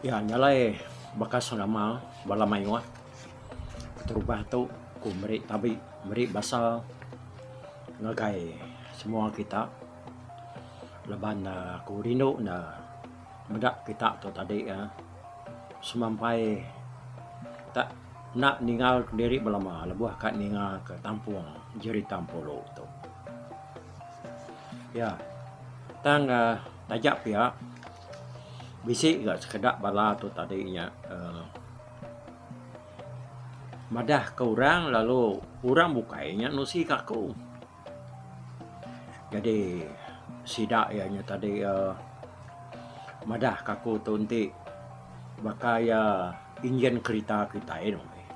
Iya nya alai baka selama bala mayuh keterubah tu ku meri tabi meri basa ngagai semua kita laban ne ku rindu ne. Meda kita tu tadi ya semampai kita enda ninga ke diri belama lebuh ka ninga ke tampung jerita empuru tu. Ya tang uhh taja pia bisi ga sekeda bala tu tadi nya uhh madah ka orang lalu orang bukai nya nusi ka aku. Jadi sida iya nya tadi uhh madah ka aku tu enti baka iya engine kereta kitai ne meh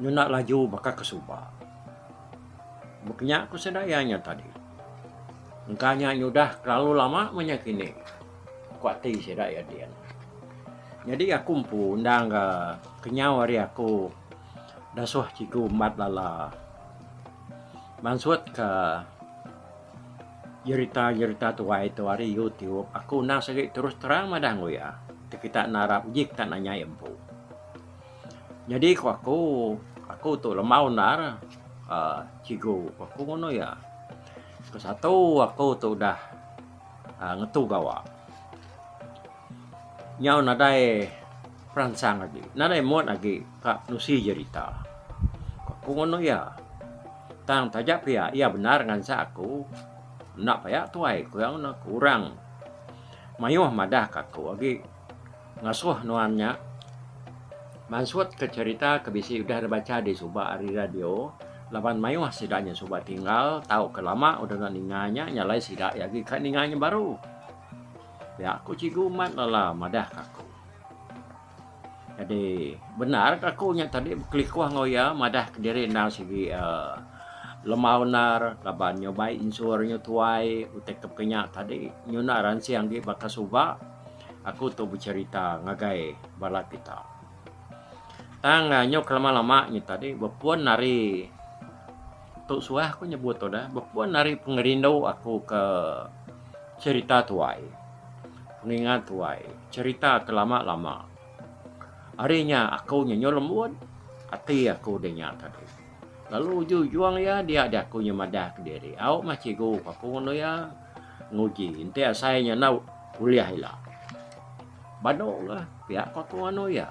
nyuna laju baka ke suba. Mbuh kinya ku sida iya nya tadi engka nya nyudah terlalu lama meh nya kini ku ati sida iya dian. Jadi aku empu endang ga kenyau ari aku dasuh chiku mbat lala. Mansut ke jerita-jerita tuai tu ari YouTube, aku enda seri terus terang madah enggau iya. Ti kita enda arap uji kita enda nyai empu. Nyadi ku aku, aku tu lembau endar uhh cikgu ku aku ngono iya. Ke satu aku tu udah uhh ngetu gawa. Nyau nadai. Peransang agi. Nadai muat agi ka nusi jerita. Ku aku ngono iya. Tang taja pia iya bendar ngansak aku. Enda paya tuai ku iya ngono ku orang. Mayuh madah ka aku agi. Ngasuh nuan nya mansut ka jerita ke bisi udah dep bacha di suba ari radio laban mayuh sida nya suba tinggal tau ke lama udah enda ninga nya nya alai sida agi ka ninga nya baru. Pia ku Cikgu Mat Lala madah ka aku. Jadi benar ke aku nya tadi bekelikuh enggau iya madah kediri endang sigi aaa lemah unar laban nyubai insur nyu tuai utai ke pekenya tadi nyunak ransing agi baka suba aku tu becerita ngagai bala kita. Tang nyu ke lama lama nyu tadi bepun ari tu suah aku nyebut tu dah bepun ari pengerindu aku ke cerita tuai. Pengingat tuai, cherita ke lama-lama. Hari nya aku nyenyo lembut, ati aku deh nya tadi. Lalu uju ujung iya dia deh aku nyu madah kediri. Au mah cikgu ku aku ngunu iya nguji enti asai nya enda ulih ila. Badu ka pia ku aku ngunu iya.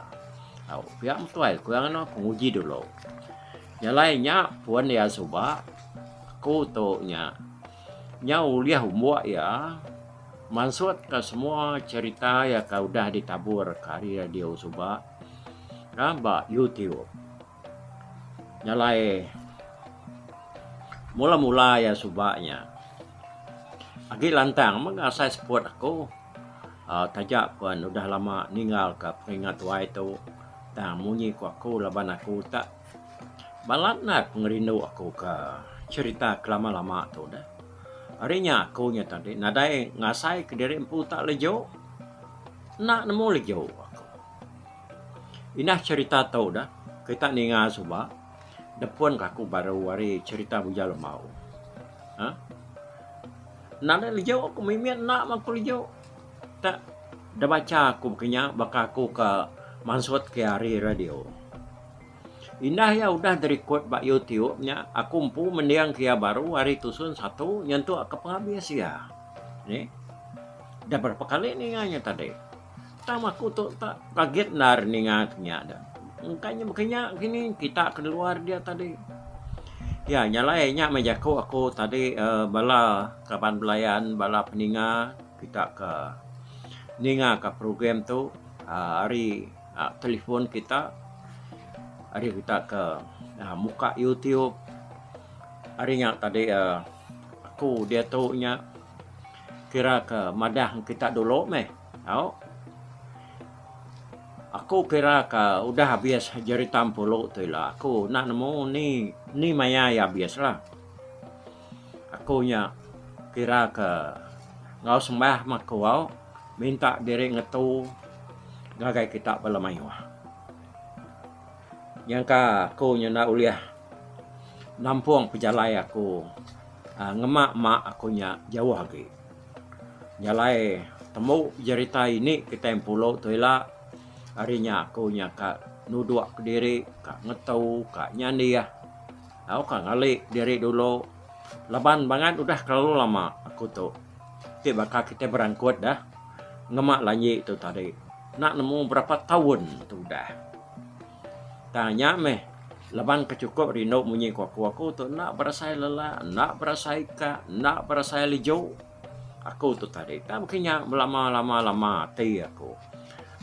Au pia meh tuai ku iya ngunu aku nguji dulu. Jalai nya pun iya suba aku tu nya. Nya ulih umbo iya mansutka semua cherita iya ke udah ditaburka ari radio suba ka ba YouTube. Nya alai mula-mula iya suba nya agi lantang mega asai support aku aaa taja pen udah lama ninggalka peringat wai tu tang munyi ku aku laban aku utak. Balat neh pengerindu aku ke cherita ke lama lama tu deh. Ari nya aku nya tadi nadai ngasai ke diri empu utak leju enda nemu leju aku. Inah cherita tu deh kita ninga suba nepun ke aku baru ari cherita Bujang Lemau. Aaa nadai leju ku mimit enda mah ku leju tak deh bacha aku baka nya baka aku ke mansut ke ari radio. Indah iya udah dirikod ba YouTube nya aku empu mendingka iya baru ari tusun satu nyentukka pengabis iya. Nih. Dah berapa kali ninga nya tadi. Tang aku tu tak kaget endar ninga ke nya dah. Engka nya baka nya kini kita ke luar dia tadi. Iya nya alai nya meh jaku aku tadi uhh bala kaban belayan bala peninga kita ke ningaka program tu uhh ari uh, telefon kita hari kita ke uh, muka YouTube hari nya tadi uh, aku dia tu nya kira ke madah kita dulu meh tau aku kira ke udah habis jeritam pulu tu lah aku nak nemu ni ni maya ya habis lah Aku nya kira ke enggau sembah meh aku au minta diri ngetu ngagai kita bala mayuh. Nyangka aku nya enda ulih nampung pejalai aku aaa ngema mak aku nya jauh agi. Jalai tembu jerita ini kitai empulu tu ila ari nya aku nya ka nudok kediri ka ngetu ka nyandih. Tau ka ngali diri dulu laban bangat udah kelalu lama aku tu ti baka kitai berangkut dah ngema lanji tu tadi enda nemu berapa taun tu udah tang nya meh laban ke chukup rindu munyi ku aku aku tu enda berasai lala enda berasai ka enda berasai leju aku tu tadi tang baka nya belama lama lama ati aku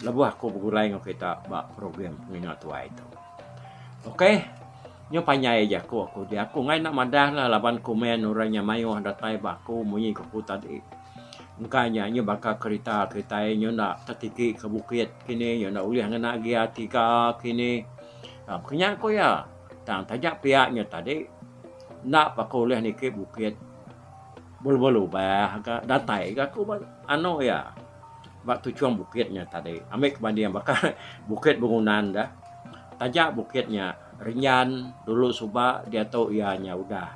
lebuh aku begulai enggau kita ba program pengingat tuai tu. Okey. Nyu panjai jaku aku ti. Aku enggai enda madah lah laban komen orang nya mayuh datai ba aku munyi ke aku tadi. Engka nya nyu baka kerita kitai nyu enda tetiki ke bukit kini nyu enda ulih ngena gear tiga kini. Pak nya ku iya. Tang taja pia nyu tadi enda pa ko ulih niki bukit belubah lubah ga datai ga ku anu iya. Ba tuchung bukit nya tadi, ambi ke banding baka Bukit Bengunan da, taja bukit nya rinyan dulu suba diatu iya nya udah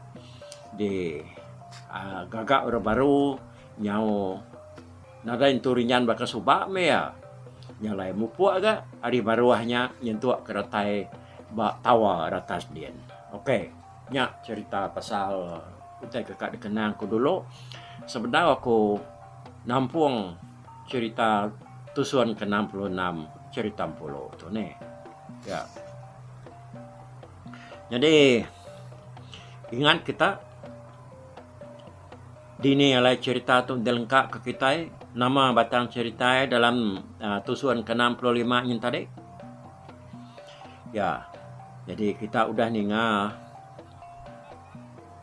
di aaa gaga orang baru nyau nadai nentu rinyan baka suba meh iya. Nya alai mupuk aga ari baruh nya nyentuk ke retai ba tower atas din. Okey. Nya cerita pasal utai ke ka dikenang aku dulu. Sebedau aku nampung cerita tusun ke enam puluh enam cerita empulu tu neh. Ya. Nyadi ingat kita dini alai cerita tu dilengka ke kitai, nama batang cerita dalam tusun ke enam puluh lima nyin tadi. Ya, jadi kita udah ninga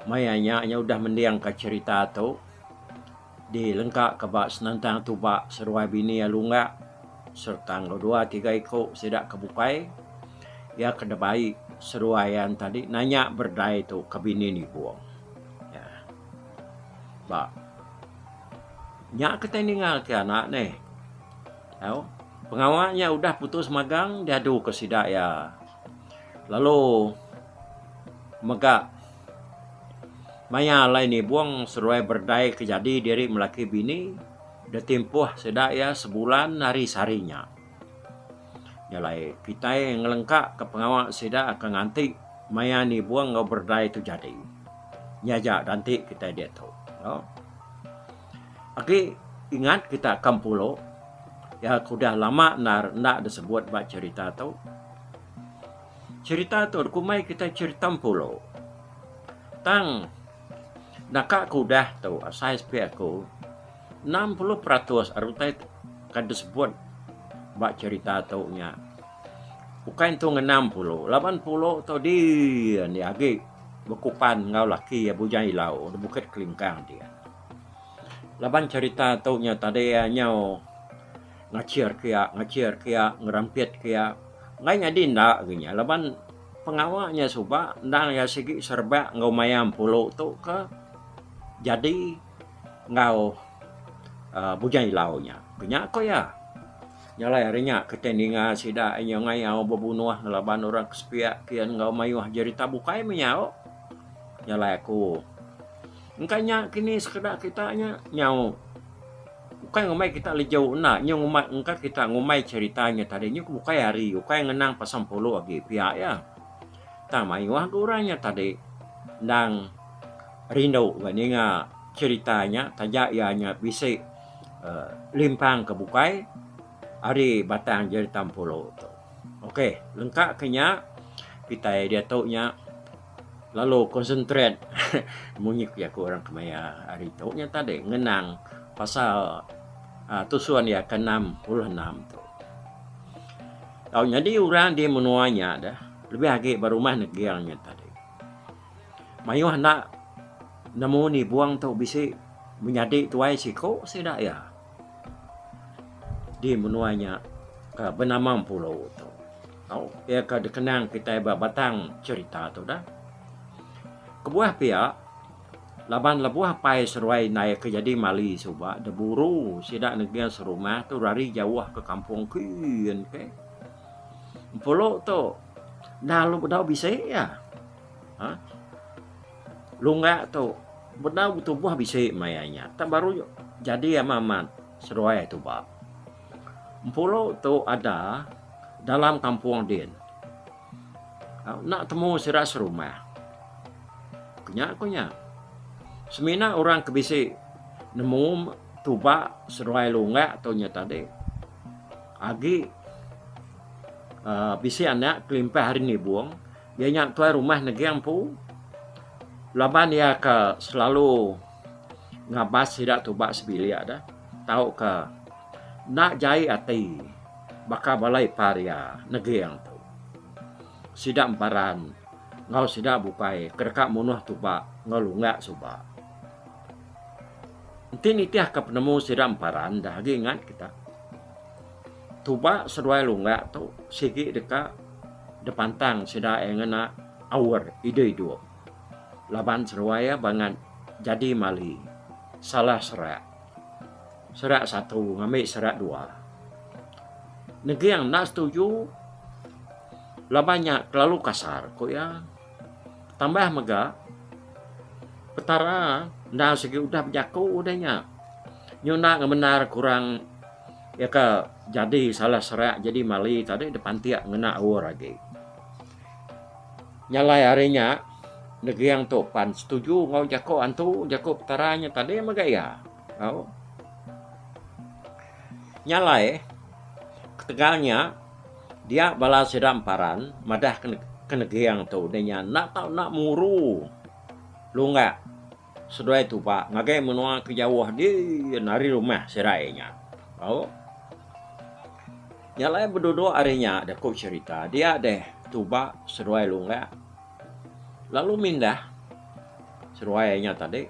maya nya inya udah mendingka cherita tu di lengka ka ba senentang tuba seruai bini alu ungga serta enggau dua tiga iku sida ke bukai iya ke da bai seruai iyan tadi nanya berdai tu ka bini ni buk. Ya. Ba nya ke tai ninga ti anak neh. Au, pengawa nya udah putus magang diadu ke sida iya lalu mega maya alai nibung seduai berdai ke jadi diri melaki bini deh timpuh sida iya sebulan ari sehari nya. Nya alai kitai ngelengka ke pengawa sida akan nganti maya nibung enggau berdai tu jadi. Nya aja ganti kitai diatu. Agi ingat kita ke Mpulo iya ke udah lama endar enda disebut ba cherita tu. Cherita tu dikumbai kita cherita Mpulo. Tang naka ke udah tu asai sepi aku enam puluh peratus ari utai ke disebut ba cherita tu nya bukai entu ngena Mpulo laban Mpulo tu diin iya agi. Bekupan enggau laki iya bujang ilau di Bukit Kelingkang ti. Laban cerita tu nya tadi iya nyau ngachir ke iya, ngachir ke iya, ngerampit ke iya. Enggai nyadi enda ke nya laban pengawa nya suba endang iya sigi serebak enggau maya empulu tu ke jadi enggau aaa bujang ilau nya. Ke nya ku iya. Jalai ari nya ke tai ninga sida inya ngayau bebunuh ngelaban orang ke sepiak kian enggau mayuh jerita bukai meh nyau. Jalai aku. Engka nya kini sekeda kita nya nyau. Ukai ngumbai kita leju enda nyu ngumbai engka kita ngumbai cerita nya tadi nyu ke bukai hari ukai ngenang pasal empulu agi pia iya. Tang mayuh ga orang nya tadi endang rindu ga ninga cerita nya taja iya nya bisi limpang ke bukai ari batang jerita Empuru tu. Ok lengka ke nya kitai diatu nya lalu concentrate munyi ku jaku orang kemaya hari tu nya tadi ngenang pasal tusun iya ke enam puluh enam tu. Tau nyadi orang di menua nya deh lebih agi ba rumah neging nya tadi. Mayuh enda nemu ni buang tu bisi menyadi tuai siko sida iya di menua nya ke benama Mpulo tu. Tau iya ke dikenang kitai ba batang cherita tu dah. Kebuah pia laban lebuh apai seruai indai ke jadi mali suba da buru sida negin serumah tu rari jauh ke kampung kin ke. Mpulo tu. Lalu bedau bisi iya. Ha? Lungga tu bedau betubuh bisi maya nya. Tak baru jadi amat amat seruai tu ba. Empulu tu ada dalam kampung din. Ha? Nak temu sira serumah. Kenya ku nya. Semina orang ke bisi nemu tuba seruai lungga tu nya tadi. Agi Bisi anak kelimpah ari nibung iya nya tuai rumah neging empu laban iya ka selalu ngabas sida tuba sebilik de tau ka enda jai ati baka bala ipar iya neging tu sida emparan enggau sida bukai ke deka munuh tuba enggau lunga suba. Enti nitih ka penemu sida emparan dah agi ingat kita. Tuba seduai lunggak tu sigi deka dipantang sida iya ngena aur idup idup laban seduai iya bangat jadi mali salah serak. Serak satu ngambi serak dua. Neging enda setuju laban nya kelalu kasar ku iya. Tambah mega petara enda sigi udah bejaku udah nya. Nyunak ngemendar kurang. Iya ka jadi salah serak jadi mali tadi dipantik ngena aur agi. Nya alai ari nya negering tu pan setuju enggau jaku antu jaku petara nya tadi mega iya. Au. Nya alai ketegal nya dia bala sida emparan madah ke negering tu enda tau enda muru lunga. Seduai tu ba ngagai menua ke jauh di nari rumah serai nya. Au. Nya alai beduduk ari nya deh ku cherita dia deh tu ba seduai Lunggak lalu mindah seduai nya tadi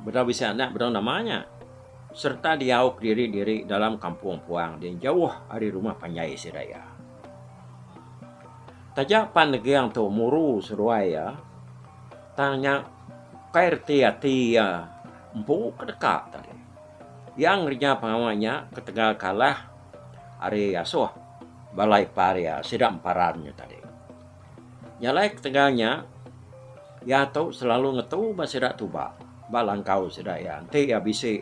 bedau bisi anak bedau nama nya serta diau kediri-diri dalam kampung puang di jauh ari rumah panjai sida iya. Taja pan neging tu muru seduai iya, Tang nya ukai reti ati iya empu ke deka tadi. Iya ngereja pengawa nya ketegal kalah ari asuh bala ipar iya sida emparan nya tadi. Nya alai ketegal nya, iya tu selalu ngetu ba sida tuba ba langkau sida iya enti iya bisi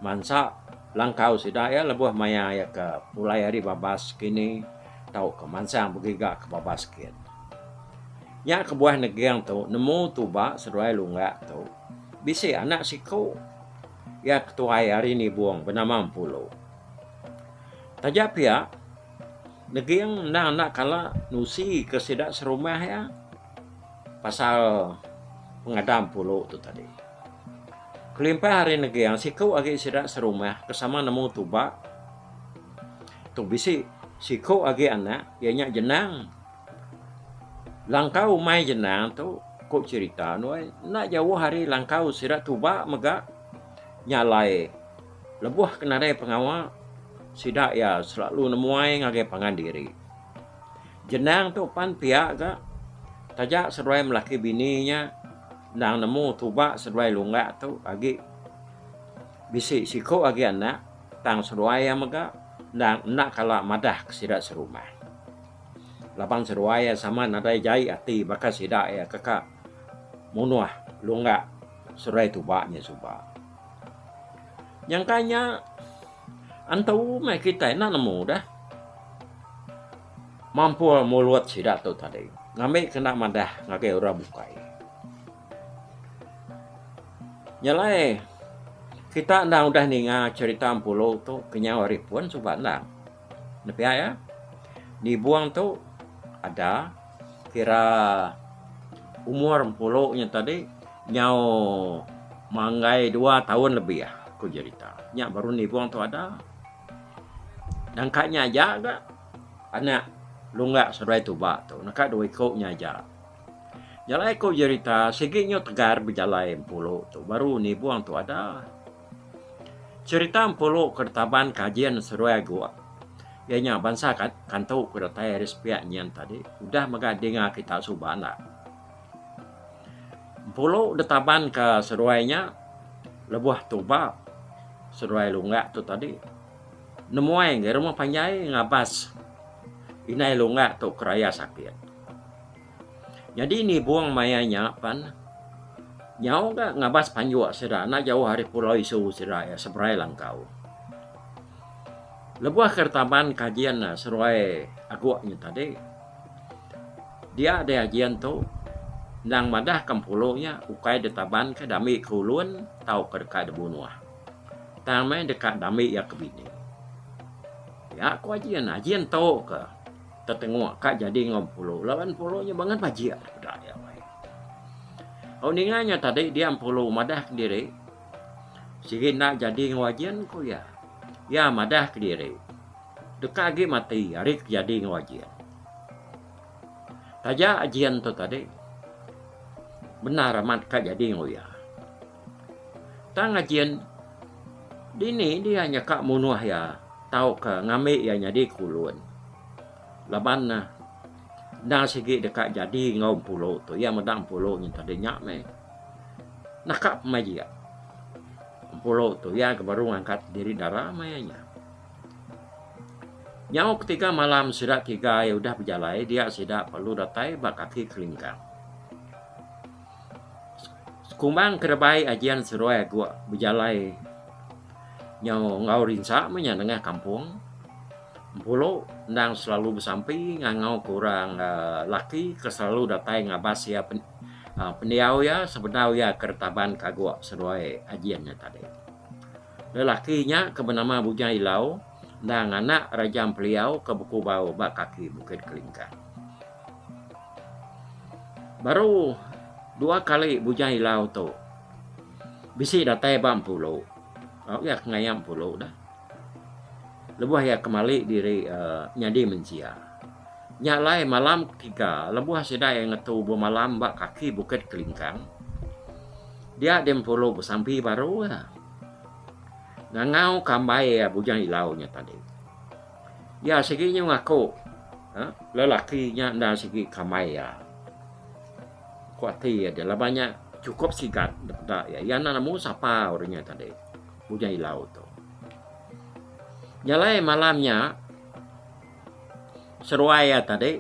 mansa langkau sida iya lebuh maya iya ke pulai ari babas kini. Tauka mansang begiga ke babas sikit. Nya kebuah neging tu nemu tuba seduai lunggak tu bisi anak siku iya ke tuai ari Nibong benama Empulu. Taja pia, neging endang enda kala nusi ke sida serumah iya pasal pengadang Empulu tu tadi. Kelimpah ari neging, siku agi sida serumah ke sama nemu tuba. Tu bisi siku agi anak iya nya Jenang. Langkau umai Jenang tu ku cerita nuan enda jauh ari langkau sida tuba mega nya alai lebuh ke nadai pengawa sida iya selalu nemuai ngagai pangan diri. Jenang tu pan pia ga taja seduai melaki bini nya endang nemu tuba seduai lunga tu agi bisi siku agi anak. Tang seruai iya mega endang enda kala madah ke sida serumah. Laban seruai iya sama nadai jai ati baka sida iya ke ka munuh lungga seruai tuba nya suba. Nyangka nya antu meh kitai enda nemu deh mampur mulut sida tu tadi ngambi ke enda madah ngagai orang bukai. Nya alai kita enda udah ninga cherita Empulu tu kenyau ari pun suba endang. Nepi iya nibung tu ada kira umur Empulu nya tadi nyau manggai dua taun lebih ku cherita. Nya baru nibung tu ada. Nangka nya aja ga anak Lunga Seruai Tuba tu naka dua iku nya aja. Jalai ko jerita sigi nyo tegar bejalai empulu tu baru nibung tu ada. Cerita empulu ke ditaban kajin seduai ago iya nya bansa kantu ke datai ari sepiak nyin tadi udah mega dinga kita suba enda. Empulu ditaban ke seduai nya lebuh tuba seduai lunggak tu tadi nemuai rumah panjai ngabas indai lunggak tu ke raya sakit. Nyadi nibung maya nya pan nyau ga ngabas panjuk sida enda jauh ari pulau isu sida iya seberai langkau. Lebuh ke retaban kajin ne seruai agu nya tadi dia deh ajin tu endang madah ke empulu nya ukai ditaban ke dami ke ulun tauka deka dibunuh tang meh deka dami iya ke bini. Nya ku ajin, ajin tu ke. Tetengok ka jadi enggau Empulu laban Empulu nya bangat bajik daripada dia bai. Au ninga nya tadi dia Empulu madah kediri sigi enda jadi enggau Ajin ku iya. Iya madah kediri deka agi mati ari ke jadi enggau Ajin. Taja Ajin tu tadi bendar amat ka jadi enggau iya. Tang ngajin dini dia nyeka munuh iya tauka ngambi iya nyadi kulun. Laban ne enda sigi deka jadi enggau Empulu tu. Iya meda Empulu nyengkah deh nya meh. Naka pemai jia Empulu tu iya ke baru ngangkat diri dara meh iya nya. Nyau ketiga malam sida tiga iya udah bejalai dia sida perlu datai ba kaki Kelingkang. Sekumbang ke rebai ajian seduai aku bejalai nyau enggau rinsa meh inya nengah kampung Bulu endang selalu besampi ngangau ke orang aaa laki ke selalu datai ngabas iya pendiau iya sebedau iya ke retaban ke aku seduai ajian nya tadi. Lelaki nya ke benama Bujang Ilau endang anak Raja Empeliau ke bekubau ba kaki Bukit Kelingkang. Baru dua kali Bujang Ilau tu bisi datai ba Empulu. Au iya ke ngaya Empulu dah. Lebuh iya kemali diri uhh nyadi mensia. Nya alai malam ketiga lebuh sida iya ngetu bemalam ba kaki Bukit Kelingkang dia di Empulu besampi baru iya. Ngangau ke ambai iya Bujang Ilau nya tadi. Iya sigi nyau ngaku lelaki nya enda sigi ke ambai iya. Ku ati iya deh laban nya chukup sigat nda peda iya. Iya enda nemu sapa orang nya tadi Bujang Ilau tu. Nya alai malam nya. Seruai iya tadi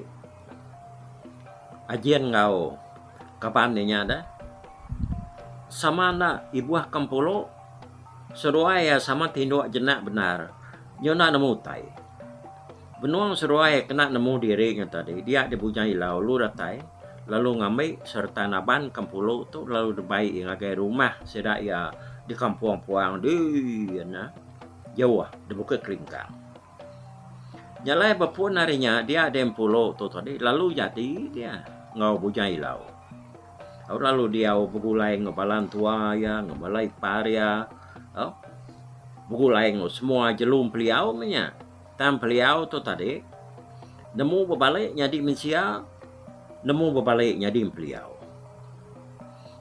Ajin enggau kaban inya deh sama enda ibuh ke empulu seruai iya sama ti indu jenak bendar nyu enda nemu utai. Benung seruai kena nemu diri nya tadi dia di bujang ila ulu datai lalu ngambi sereta naban ke empulu tu lalu dibai iya ngagai rumah sida iya di kampung Puang dii nya jauh di Bukit Keringkang. Jalai bepun ari nya dia di Empulo tu tadi lalu jadi dia enggau Bujang Ilau. Au lalu diau begulai enggau bala entua iya enggau bala ipar iya au begulai enggau semua jelu Empeliau meh nya. Tang Empeliau tu tadi nemu bebali nyadi mensia nemu bebali nyadi Empeliau.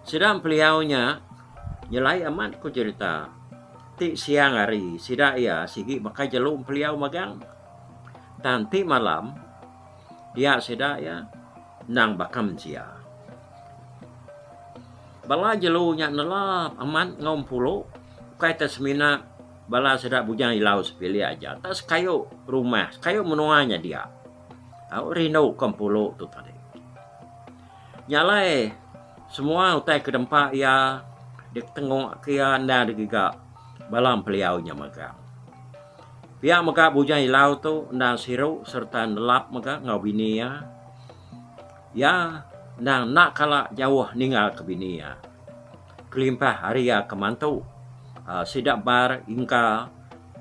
Sida Empeliau nya nyelai amat ku jerita Ti siang hari sida iya sigi baka jelu empeliau magang tang ti malam dia sida iya endang baka mensia. Bala jelu nya nelap amat enggau empulu ukai tau semina bala sida bujang ilau sepilik aja tau sekayu rumah sekayu menua nya dia. Au rindu ko empulu tu tadi. Nya alai semua utai ke dempa iya ditengok ke iya enda agi giga bala peliau nya mega. Pia mega Bujang Ilau tu enda siru sereta nelap mega enggau bini iya. Iya enda enda kala jauh ninggal ke bini iya kelimpah ari iya ke mantu aaa sida bar ingka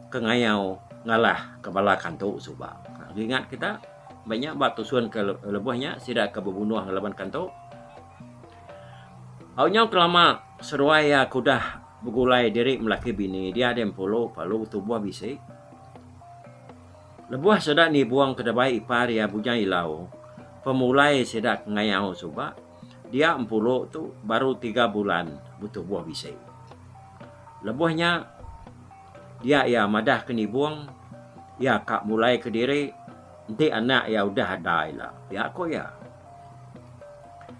ke ngayau ngalah ke bala kantu suba. Aaa ingat kita. Meh nya ba tusun ke lebuh nya sida ke bebunuh ngelaban kantu. Au nyau kelama seduai iya ke udah begulai diri melaki bini dia di Empulu lalu tubuh bisi. Lebuh sida nibung ke dabai ipar iya Bujang Ilau pemulai sida ke ngayau suba dia Empulu tu baru tiga bulan betubuh bisi. Lebuh nya. Dia iya madah ke nibung iya ka mulai ke diri enti anak iya udah ada ila, pia ku iya.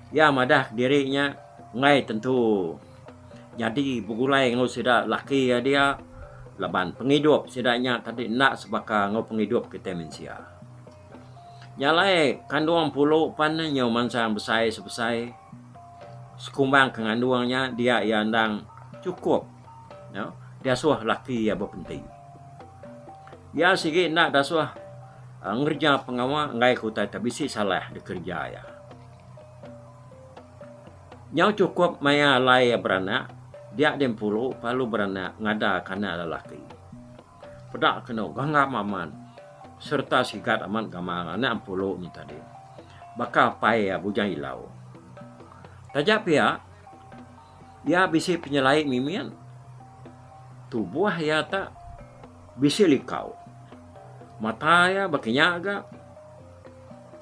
Iya madah ke diri nya enggai tentu nyadi begulai enggau sida laki iya dia laban pengidup sida nya tadi enda sebaka enggau pengidup kitai mensia. Nya alai kandung pulu pan ne nyau mansang besai sebesai sekumbang ke ngandung nya dia iya endang chukup. Nya, diasuh laki iya bepenti. Iya sigi enda diasuh ah, ngereja pengawa enggai ke utai ti bisi salah dikereja iya. Nyau chukup maya alai iya beranak, dia di Empuru pak lalu beranak ngada kanak lelaki. Peda kenu ganggam amat sereta sigat amat gamal anak Empuru nya tadi. Baka apai iya bujang ilau. Taja pia, Iya bisi penyelai mimin. Tubuh iya ta bisi likau. Mata iya baka nya ga.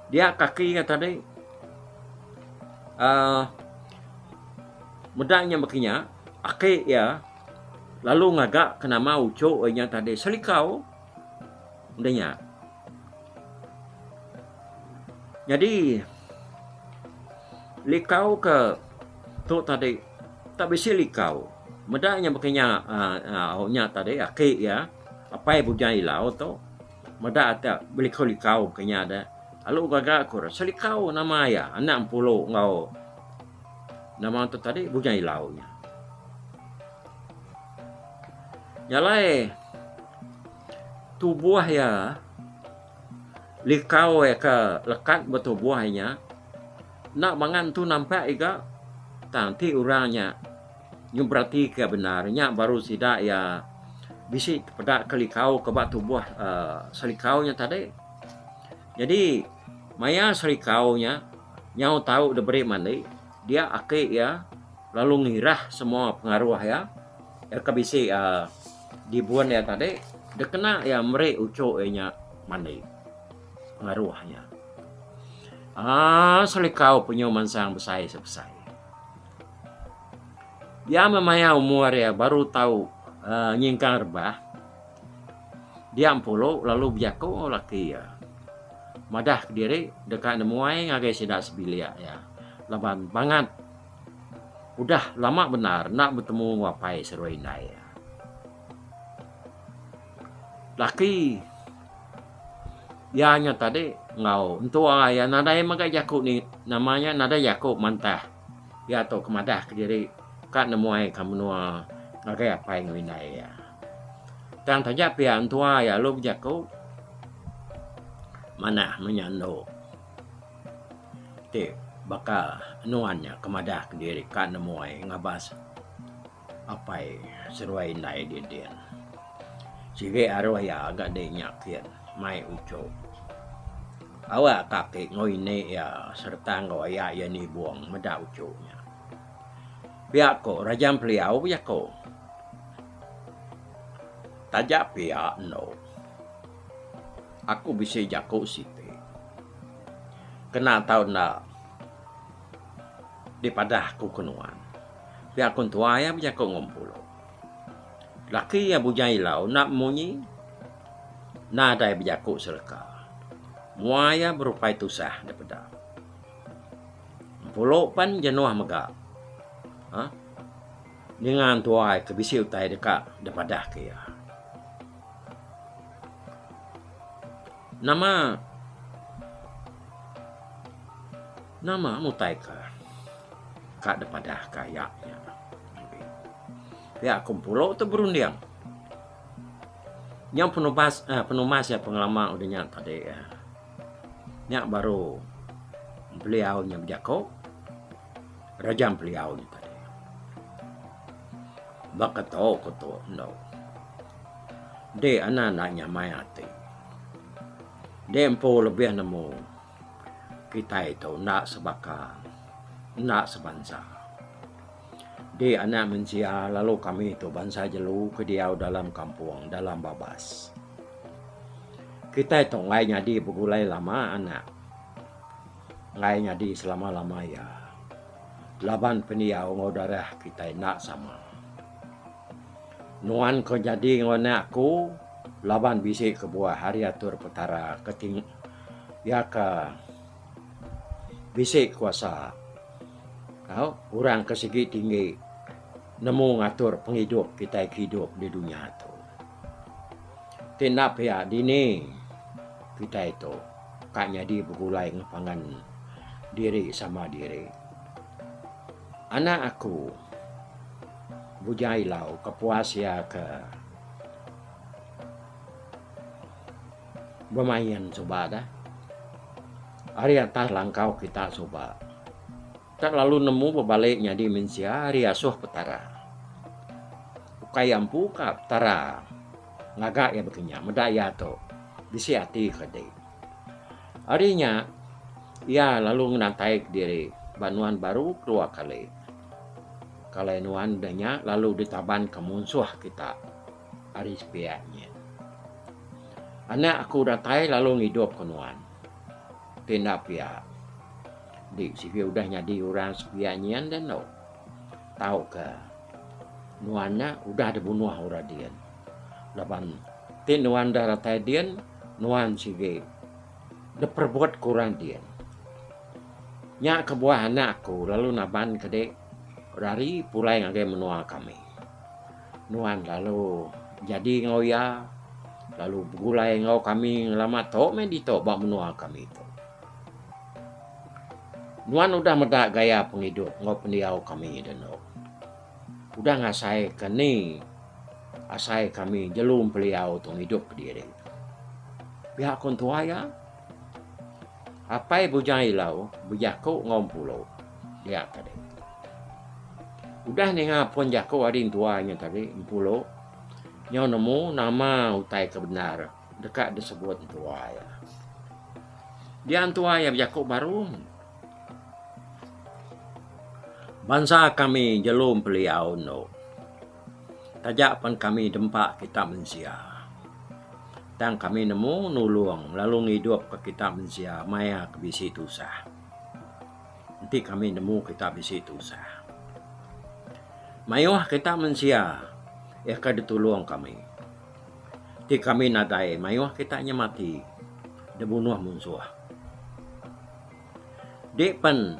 Dia kaki iya tadi uhh meda nya baka nya. Aki iya lalu ngaga ke nama uchu iya tadi selikau. Udah nya. Nyadi likau ke tu tadi tak bisi likau. Meda nya baka nya aaa au nya tadi aki iya apai Bujang Ilau tu meda ati belikau-likau baka nya deh. Lalu gaga aku rasa likau nama iya anak Empulu enggau nama tu tadi Bujang Ilau nya. Nya alai. Tubuh iya likau iya ke lekat betubuh inya enda mangan tu nampak iga tang ti orang nya nyun beratika bendar nya baru sida iya bisi peda ke likau ke ba tubuh aaa selikau nya tadi jadi maya selikau nya nyau tau diberi mandi dia aki iya lalu ngirah semua pengaruh iya. Iya ke bisi dibun iya tadi dikena iya meri uchu iya nya mandi pengaruh nya aaa selikau penyu mansang besai isi besai. Iya meh maya umur iya baru tau nyingkang rebah dia empulu lalu bejaku enggau laki iya madah kediri deka nemuai ngagai sida sebilik iya laban bangat. Udah lama bendar enda betemu enggau apai serua indai iya. Laki iya nya tadi enggau entua iya nadai mega jaku ni nama nya nadai jaku mantah. Iya tu ke madah kediri ka nemuaika menua ngagai apai enggau indai iya. Tang taja pia entua iya lalu bejaku manah menya endu. Ti baka nuan nya ke madah diri ka nemuai ngabas apai seruai indai di din. Sigi aruh iya ga dei nya kin mai uchu. Awa ka ake enggau ini iya sereta enggau aya iya nibong meda uchu nya. Pia ko Raja Empeliau pejako. Taja pia eno. Aku bisi jaku siti kena tau enda dipadah aku ke nuan. Pia aku entua iya bejaku enggau empulu. Laki iya bujang ilau enda munyi nadai bejaku seleka. Mua iya berupai tusah nda peda. Empulu pen jenuh mega aaa ninga entua iya ke bisi utai deka dipadah ke iya. Nama nama mutai ke ka dep padah ka iya nya ngambi pia ku empulo tu berunding nyau penubas uhh penumas iya pengelama udah nya tadi uhh nya baru beliau nya bejaku raja beliau nya tadi. Baka tau ku tu endo. Enti anda enda nyamai ati. Enti empu lebih nemu kitai tu enda sebaka enda sebansa. Enti anak mensia lalu kami tu bansa jelu ke diau dalam kampung dalam babas. Kitai tu enggai nyadi begulai lama anak. Enggai nyadi selama-lama iya. Laban pendiau enggau darah kitai enda sama. Nuan ke nyadi enggau anak aku laban bisi kebuah ari atur Petara ke ting iya ke bisi kuasa tau orang ke sigi tinggi nemu ngatur pengidup kitai ke idup di dunya tu. Ti enda pia dini kitai tu ka nyadi begulai enggau pangan diri sama diri. Anak aku bujai ilau ke puas ia ke bemain suba da ari atas langkau kita suba. Tak lalu nemu bebali nyadi mensia ari asuh Petara. Ukai iya empu ka Petara ngaga iya baka nya meda iya tu bisi ati ke di. Ari nya iya lalu ngenantai ke diri ba nuan baru kedua kali. Kalai nuan udah nya lalu ditaban ka munsuh kita ari sepiak nyin. Anak aku datai lalu ngidup ka nuan. Ti enda pia. Di sigi udah nyadi orang sepiak nyian deh endo. Tauka nuan nya udah dibunuh orang din. Laban ti nuan enda ratai din, nuan sigi diperebut ke orang din. Nya kebuah anak aku lalu naban ke dik, rari pulai ngagai menua kami. Nuan lalu jadi enggau iya, lalu begulai enggau kami ngelama tu meh ditu ba menua kami tu. Nuan udah meda gaya pengidup enggau pendiau kami denu. Udah ngasaika ni asai kami jelu empeliau tu ngidup diri. Pia ku entua iya. Apai Bujang Ilau bejaku enggau Empulu dia tadi. Udah ninga pun jaku ading tua nya tadi, Empulu nyau nemu nama utai ke bendar deka disebut entua iya. Dia entua iya bejaku baru, Bansa kami jelu Empeliau endo. Taja pen kami dempa kita mensia, tang kami nemu nulung lalu ngidup ka kita mensia maya ke bisi tusah. Enti kami nemu kita bisi tusah, mayuh kita mensia iya ke ditulung kami. Ti kami nadai mayuh kita nya mati dibunuh munsuh. Di pen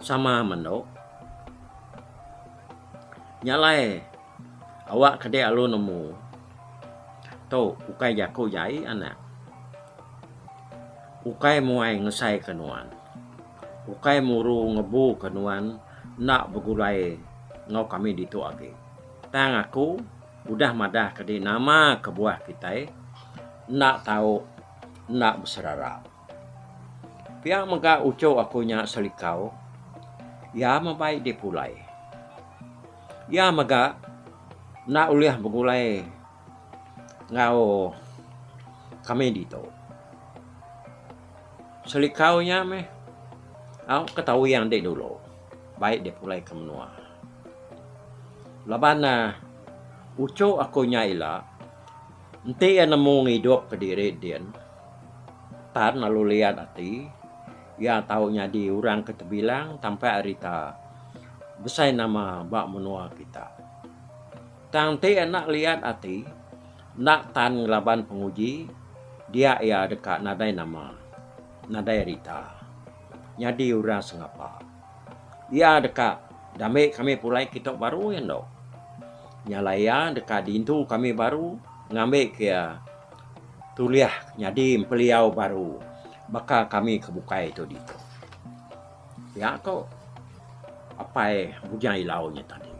sama mendo. Nya alai awak ke dek lalu nemu tu ukai jaku jai anak ukai muai ngesai ke nuan ukai muru ngebu ke nuan enda begulai enggau kami ditu agi tang aku udah madah ke dek nama kebuah kitai enda tau enda beserara. Pia mega uchu aku nya selikau, iya mebai dipulai. Iya mega enda ulih begulai enggau kami ditu. Selikau nya meh au ke tawing andi dulu bai dipulai ke menua. Laban ne uchu aku nya ila enti iya nemu ngidup ke diri din. Tan lalu liat ati iya tau nyadi urang ke tebilang tampai ari ta besai nama ba menua kita. Tang ti enda liat ati enda tan ngelaban penguji dia iya deka nadai nama nadai ari ta nyadi urang sengapa. Iya deka dame kami pulai kitok baru iya endo. Nyala iya deka dintu kami baru ngambi ke iya. Tulih nyadi empeliau baru baka kami ke bukai tu ditu. Pia ko apai Bujang Ilau nya tadi.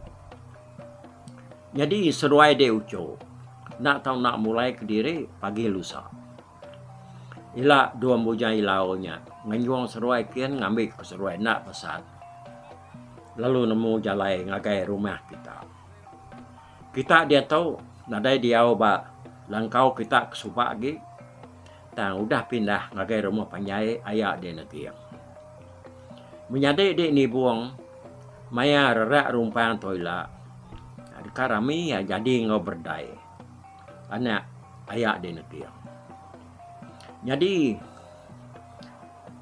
Nyadi seduai dek ucho enda tau enda mulai kediri pagi lusa. Ila dua Bujang Ilau nya ngenjung seduai kin ngambi ko seduai enda pesan lalu nemu jalai ngagai rumah kita. Kita diatu nadai diau ba langkau kita ke suba agi tang udah pindah ngagai rumah panjai aya di Neging. Menyadi di Nibong maya rerak rumpang tu ila deka rami iya jadi enggau berdai anak aya di Neging. Nyadi.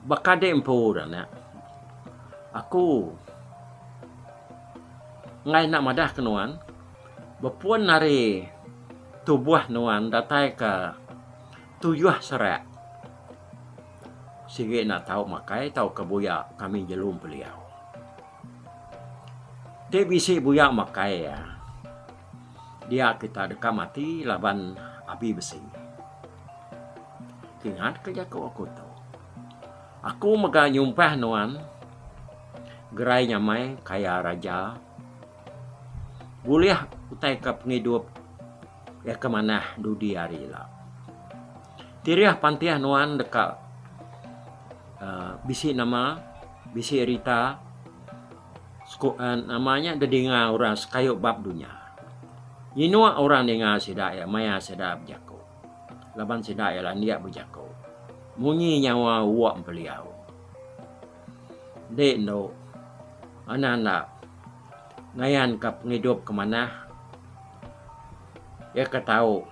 Baka dek empu dah nek. Aku enggai enda madah ke nuan bepun ari tubuh nuan datai ke tuyuh serak sigi enda tau makai tau ke buya kami jelu empeliau. Ti bisi buya makai iya. Dia kita deka mati laban abi besi. Ingatka jaku aku tu. Aku mega nyumpah nuan gerai nyamai kaya raja bulih utaika pengidup iya ke manah dudi hari ila. Tirih pantih nuan deka aaa bisi nama, bisi rita. Sku eh nama nya didinga orang sekayu ba dunya. Inuk orang ninga sida iya maya sida bejaku. Laban sida iya landik bejaku munyi nyawa uok empeliau. Enti endo anak enda ngayan ka pengidup ke manah iya ke tau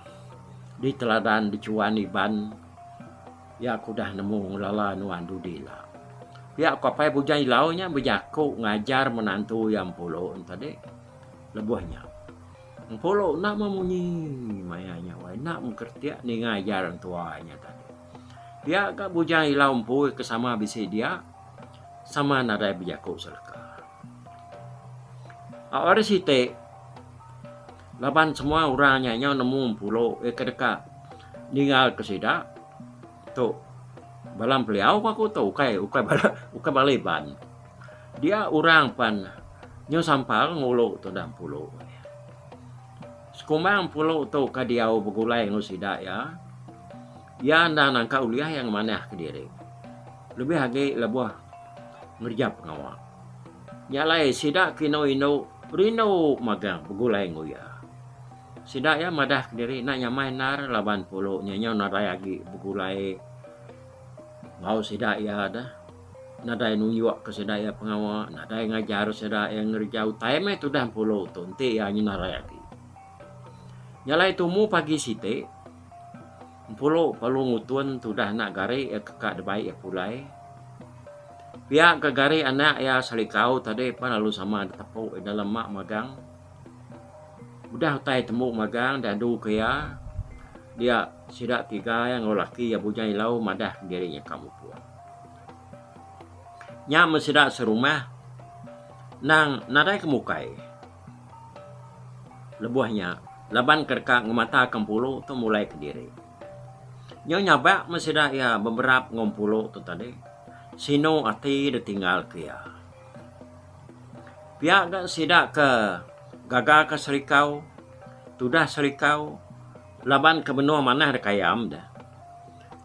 diteladan dichuan Iban. Ya aku udah nemu ngelala nuan dudi la. Pia aku apai Bujang Ilau nya bejaku ngajar menantu iya Empulu ento dek. Lebuh nya Empulu enda meh munyi maya nya wai enda meh keretik ninga ajar entua nya tadi. Pia ga Bujang Ilau empui ke sama bisi dia sama nadai bejaku seleka. Ari siti. Laban semua orang nya nyau nemu empulo iya ke deka ninggalka sida tu bala empeliau ku aku tu ukai ukai bala ukai bala Iban. Dia orang pan nyau sampal ngulu tu enda empulo. Sekumbang empulo tu ka diau begulai enggau sida iya, iya enda nangka ulih iya ngemanahka diri lebih agi lebuh ngereja pengawa. Nya alai sida ke indu-indu rindu magang begulai enggau iya. Sida iya madah kediri enda nyamai endar laban pulu nya nyau nadai agi begulai enggau sida iya deh. Nadai nunjukka sida iya pengawa, nadai ngajar sida iya ngereja utai meh tudah pulu tu enti iya nyenalai agi. Nya alai tumu pagi siti. Empulu palu ngutun tudah anak gari iya ke ka dibai iya pulai. Pia ka gari anak iya Salikau tadi pan lalu sama ditepu iya dalam ma magang. Udah utai tembu magang diadu ke iya dia sida tiga iya enggau laki iya Bujang Ilau madah diri iya ka mupuk. Nya men sida serumah nang nadai ke mukai. Lebuh nya, laban ke deka ngemataka empulu tu mulai kediri. Nyau nyabak meh sida iya beberap enggau empulu tu tadi, sinu ati ditinggalka iya. Pia ga sida ke gaga ke serikau, tudah serikau laban ke benung manah deka ayam deh.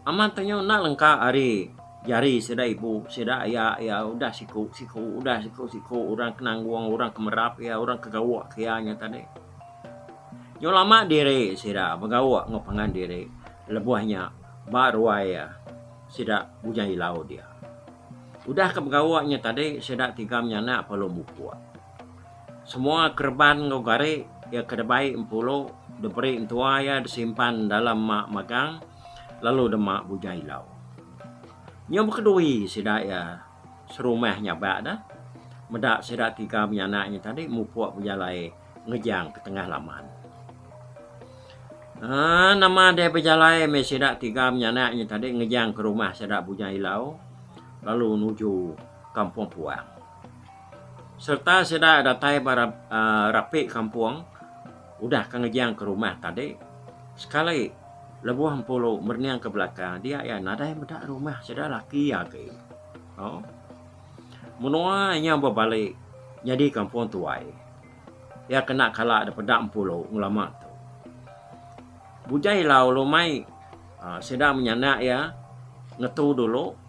Amat tenyu enda lengka ari jari sida ibu, sida aya iya udah siku, siku udah siku, siku orang ke nanggung, orang ke merap iya, orang ke gawa ke iya nya tadi. Nyau lama diri sida begawa enggau pangan diri lebuh nya ba ruai iya sida Bujang Ilau dia. Udah ke begawa nya tadi sida tiga menyanak Palong Bukuk. Semua kereban enggau gari iya ke dibai empulu diberi entua iya disimpan dalam ma magang lalu dema buja ilau. Nyau bekedui sida iya serumah nyabak deh meda sida tiga menyanak nya tadi mupuk bejalai ngejang ke tengah laman. Aaa nama deh bejalai meh sida tiga menyanak nya tadi ngejang ke rumah sida Bujang Ilau lalu nuju Kampung Puang. Sereta sida datai ba rapi kampung udah ka ngejang ke rumah tadi sekali lebuh empuru merening ke belakang dia iya nadai meda rumah sida laki agi. Menua inya bebali nyadi kampung tuai iya kena kala da peda empuru ngelama tu. Bujai lau lumai sida menyanak iya ngetu dulu.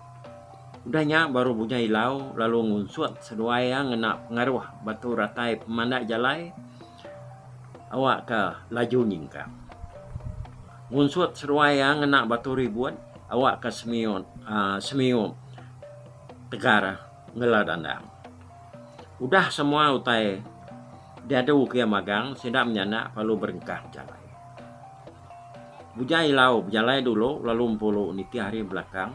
Udah nya baru Bujang Ilau lalu ngunsut seduai iya ngena pengaruh batu ratai pemandai jalai awakka laju nyingkang. Ngunsut seduai iya ngena batu ribut awakka semiyut aaa semiyut tegar ngela dandang. Udah semua utai diadu ke iya magang sida menyanda lalu berengkah jalai. Bujai ilau bejalai dulu lalu empulu nitih ari belakang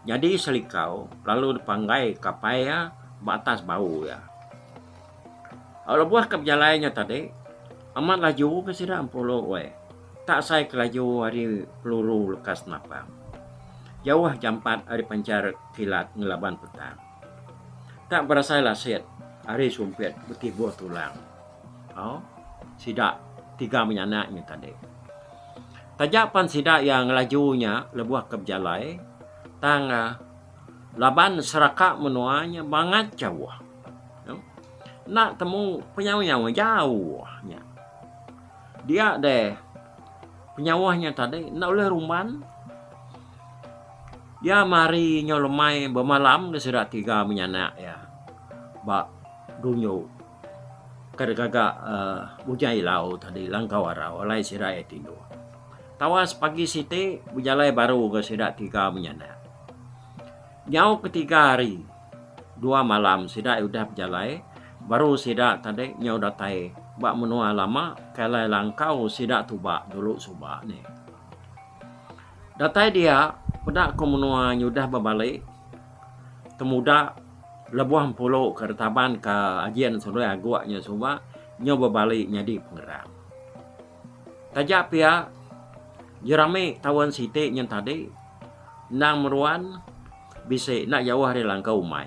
nyadi selikau lalu depanggai kapai iya ba atas bau iya. Au lebuh ka bejalai nya tadi amat laju ga sida empulu weh tak sai ke laju ari peluru lekas napang jauh jampat ari panchar kilat ngelaban petang. Tak berasai lasit ari sumpit betibuh tulang. Au, sida tiga menyanak nya tadi. Taja pan sida iya ngelaju nya lebuh ke bejalai tang laban seraka menua nya bangat jauh. Enda temu penyawa-nyawa jauh nya. Dia deh penyawa nya tadi enda ulih rumban iya mari nyau lemai bemalam di sida tiga menyanak iya ba dunyo ka de gaga aaa bujai ilau tadi langkau arau alai sida iya tindu. Tawas pagi siti bejalai baru enggau sida tiga menyanak nyau ke tiga hari. Dua malam sida udah bejalai baru sida tadi nyau datai ba menua lama ke alai langkau sida tuba dulu suba nih. Datai dia peda ko menua nyudah bebali temuda lebuh empulu ke retaban ka ajin selui agok nya suba nyau bebali nyadi pengerang. Taja pia jerami taun siti nya tadi endang meruan Bisi enda jauh ari langkau umai.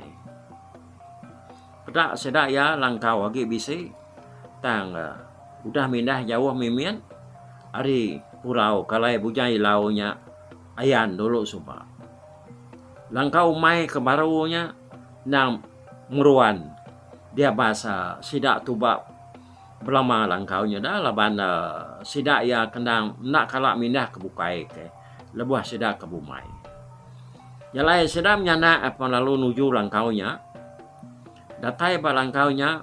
Peda sida iya langkau agi bisi tang udah mindah jauh mimit ari purau kalai Bujang Ilau nya ayan dulu suba. Langkau umai ke baru nya endang meruan dia bas sida tuba Belama langkau nya da laban sida iya ke endang enda kala mindah ke bukai ke lebuh sida ke bumai. Jalai sida menyanak apan lalu nuju langkau nya. Datai ba langkau nya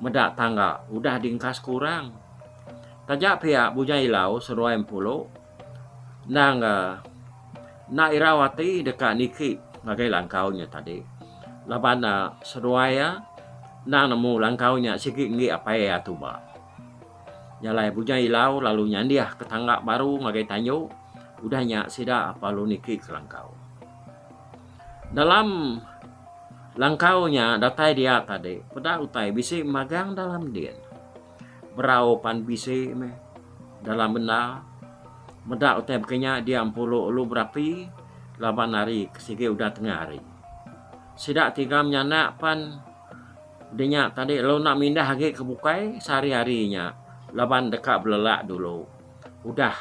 meda tangga udah diengkas ke orang. Taja pia Bujang Ilau seduai Empulu Endang ga enda irau ati deka niki ngagai langkau nya tadi laban ne seduai iya endang nemu langkau nya sigi enggi apai iya tuba. Iya alai bujang ilau lalu nyandih ke tangga baru ngagai tanyu udah nya sida lalu niki ke langkau. Dalam langkau nya datai dia tadi peda utai bisi magang dalam din. Berau pan bisi meh dalam benda. Meda utai baka nya dia empulu ulu berapi laban ari ke sigi udah tengah hari. Sida tiga menyanak pan di nya tadi lalu enda mindah agi ke bukai sehari-hari nya laban deka belelak dulu udah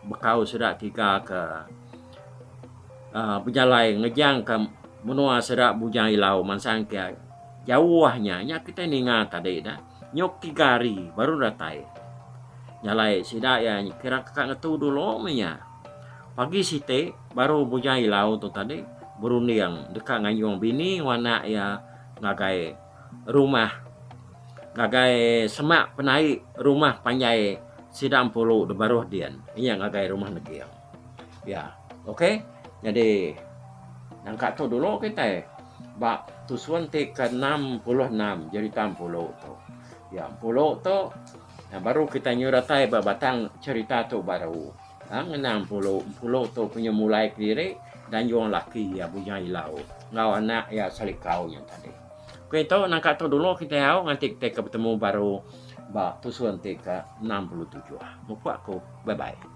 bekau sida tiga ke aaa bejalai ngejangka menua sida Bujang Ilau mansang ke jauh nya. Nya kitai ninga tadi dah. Nyuk tiga hari baru datai. Jalai sida iya kira ka ngetu dulu meh nya. Pagi siti baru Bujang Ilau tu tadi berunding deka ngayung bini enggau anak iya ngagai rumah ngagai semak penai rumah panjai sida empuru di Baruh Din iya ngagai Rumah Neging. Ya. Okey. Nyadi nangka tu dulu kitai ba tusun ti ke-66 jerita Empulu tu. Ya, Empulu tu baru kitai nyeratai ba batang jerita tu baru. Ha ngena Empulu, Empulu tu penyemulai kediri Danjong Laki iya Bujang Ilau enggau anak iya Selikau nya tadi. Okey tu nangka tu dulu kitai au nganti kitai ke betemu baru ba tusun ti ke-67. Mupuk aku. Bye bye.